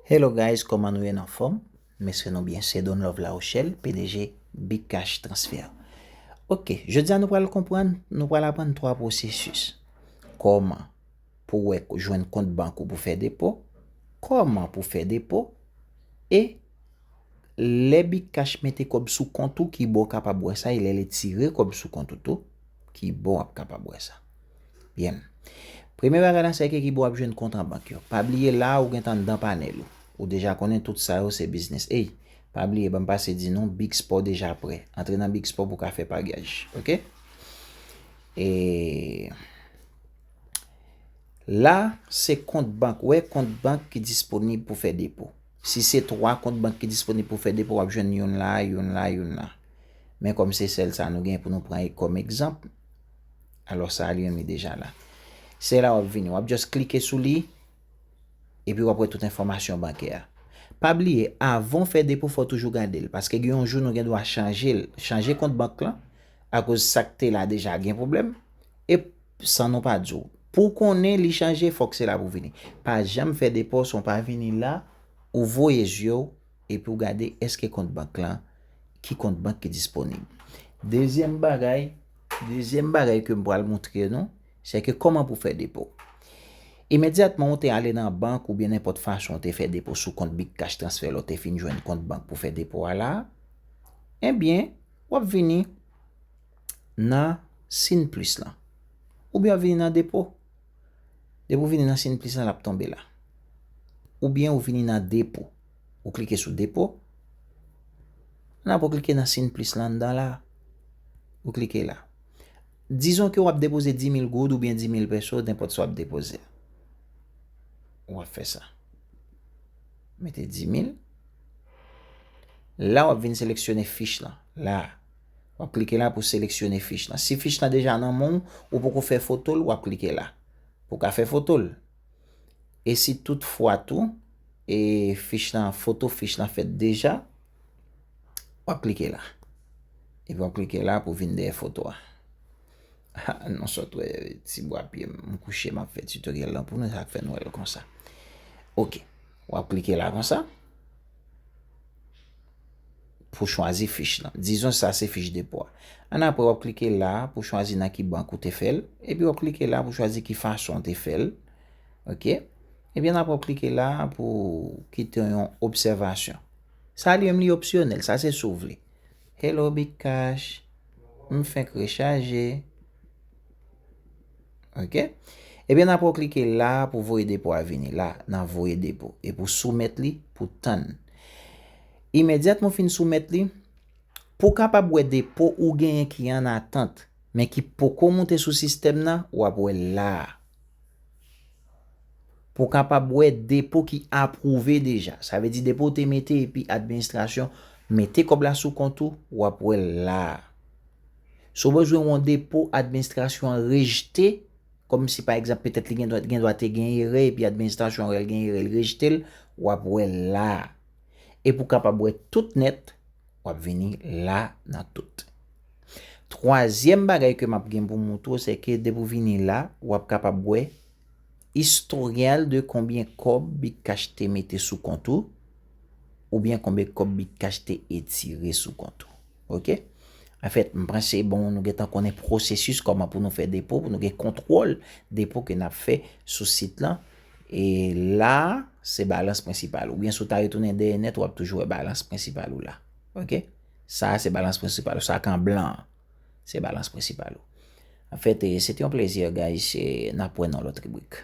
Hello guys koman nou ye n anfom m espre nou byen se Donlove Larochelle pdg Big Cash Transfer ok jodi a nou pral konprann nou pral aprann 3 pwosesis koman pou wè jwenn kont bank ou pou fè depo koman pou fè depo e lè Big Cash mete kòb sou kont ou kibo w kapab wè sa e lè li tire kòb sou kont ou tou kibo w ap kapab wè sa. Byen. Premye bagay la se ak ekip ou ap jwenn kont an bank yo. Pa bliye la ou gentan anndan panèl ou. Ou deja konnen tout sa yo se biznis. Ey, pa bliye banm pase di nou Big Sport deja prè. Antre nan Big Sport pou ka fè paryaj. Ok. E La se kont bank. Ou wè kont bank ki disponib pou fè depo. Si se 3 kont bank ki disponib pou fè depo, w ap jwenn youn la, youn la, youn la. Men kòm se sèl sa nou gen pou nou pran kòm egzanp, Alò sa a li menm li deja la. Se la w ap vini. W ap just klike sou li, epi w ap wè tout enfòmasyon bankè a. Pa bliye, avan w fè depo, fò w toujou gade l. Paske gen yon jou nou gen dwa chanje l, chanje kont bank lan, akoz sa k te la deja gen pwoblèm, e san nou pa di w. Pou w konnen li chanje, fòk se la pou w vini. Pa janm fè depo san w pa vini la, ou voye zye w. Epi w gade eske kont bank lan, ki kont bank ki disponib. Dezyèm bagay, dezyèm bagay ke m pral montre nou, se ke kòman pou fè depo. Imedyatman ou te ale nan bank ou byen nenpòt fason ou te fè depo sou kont big cash transfè la ou te fin jwenn kont bank pou fè depo a la, ebyen w ap vini nan sin plis lan. Oubyen w ap vini nan depo. Depi ou vini nan siyn plis lan lap tonbe la. Oubyen ou vini nan depo. Ou klike sou depo. Nan apre ou klike nan siyn plis lan anndan la. Ou klike la. Dizon ke wap depoze 10.000 goud oubyen 10.000 peso nenpòt sa wap depoze. Ou ap fè sa. Mete 10.000. La wap vin seleksyone fich lan. La. W ap klike la pou w seleksyone fich lan. Si fich lan deja nan men w, ou poko fè foto l, w ap klike la pou w ka fè foto l. E si tout fwa tou, e fich lan, foto fich lan fèt deja, w ap klike la. Epi w ap klike la pou w vin dèyè foto a. Ha, nou sòt wè ti bwa pye m. M kouche m ap fè tutoriel lan pou nou, sa k fè n wè l konsa. Ok, w ap klike la konsa. pou chwazi fich lan. Dizon sa se fich depo a. Annapre, w ap klike la a pou chwazi nan ki bank ou te fè l. Epi w ap klike la a pou chwazi ki fason ou te fè l. Ok. Epi annapre w ap klike la a pou kite yon obsèvasyon. Sa li menm li opsyonèl. Sa se si w vle. Hello Bitcash. M fenk rechaje. Ok. Ebyen nan pou klike la pou voye depo a vini la nan voye depo e pou soumèt li pou tann. Imedyat mou fin soumèt li, pou kapab wè depo ou genyen ki an atant men ki poko moute sou sistèm nan w ap wè l la a. Pou kapab wè depo ki apwouve deja. Sa vle di depo ou te mete epi administrasyon mete kòb la sou kont ou w ap wè l la a. Si w bezwen yon depo administrasyon an rejte, kòm si pa egzanp petèt li gen dwa gen dwa te gen erè epi administrasyon an wè l gen erè li rejte l, w ap wè l la a. Epi w kapab wè tout nèt, w ap vini la a nan tout. Twazyèm bagay ke m ap gen pou m montre w se ke depi w vini la a, w ap kapab wè istoryal de konbyen kòb Bitcash te mete sou kont ou oubyen konbyen kòb Bitcash te etire sou kont ou. Ok. En fèt, m panse bon nou gentan konnen pwosesis kòman pou nou fè depo, pou nou gen kontwòl depo ke n ap fè sou sit lan. E la, se balans prensipal ou. Oubyen si w ta retounen dèyè nèt, w ap toujou wè balans prensipal ou la. Ok. Sa a se balans prensipal ou. Sa ki an blan an, se balans prensipal ou. En fèt, se te yon plezi guys. N ap wè nan lòt ribrik.